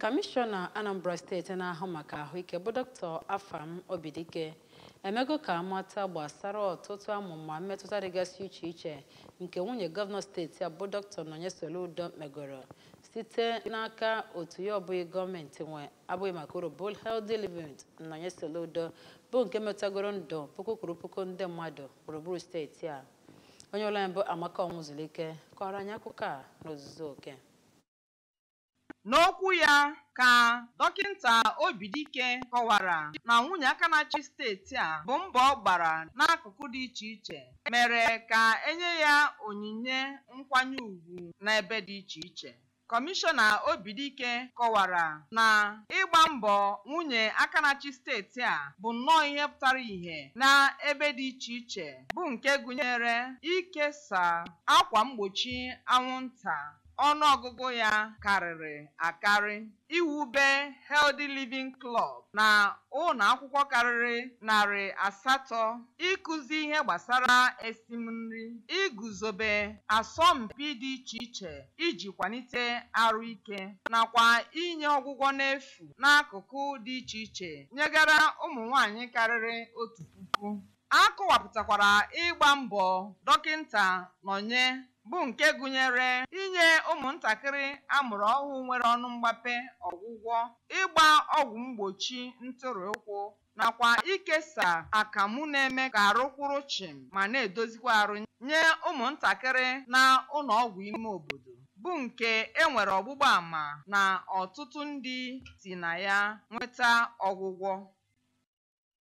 Kọmishọna Anambra steeti na-ahụ maka ahụike bụ Dr. Afam Obidike emego ka a mata gbasara ọtụtụ amụma mmetụta dịgasị iche iche nke nwunye gọvanọ steeti a bụ Dr. Nonye Soludo megoro site n'aka otu ya ọ bụghị gọọmenti nwe abụghị maka uru bụ Healthy Living Nonye Soludo bụ nke metagoro ndụ puku kwuru puku ndị mmadụ gburugburu steeti a onye ụlọ anyị bụ Amaka Ọnwụzulike kọrọ anyị akụkọ a n'ozuzu oke N'okwu ya ka Dọkịnta Obidike kọwara na nwunye aka na-achị steeti a bụ mbọ ọ gbara n'akụkụ dị iche iche mere ka e nye ya onyinye nkwanye ugwu n'ebe dị iche iche. Kọmishọna Obidike kọwara na ịgba mbọ nwunye aka na-achị steeti a bụ nnọọ ihe pụtara ihe n'ebe dị iche iche bụ nke gụnyere ikesa akwa mgbochi anwụnta ọnụ ọgụgụ ya karịrị akarị, iwube Healthy Living Club na ụlọ akwụkwọ karịrị narị asatọ, ịkụzi ihe gbasara esim nri, iguzobe asọmpi dị iche iche iji kwalite arụ ike, nakwa inye ọgwụgwọ n'efu n'akụkụ dị iche iche nyegara ụmụ nwanyị karịrị otu puku. A kọwapụtakwara ịgba mbọ Dọkịnta Nonye bụ nke gụnyere inye ụmụntakịrị a mụrụ ọhụụ nwere ọnụ mgbape ọgwụgwọ, ịgba ọgwụ mgbochi ntụrị ụkwụ nakwa ikesa akamụ na-eme ka arụ kwụrụ chịm ma na-edozikwa arụ nye ụmụntakịrị na ụlọọgwụ ime obodo bụ nke e nwere ọgbụgba ama na ọtụtụ ndị si na ya nweta ọgwụgwọ.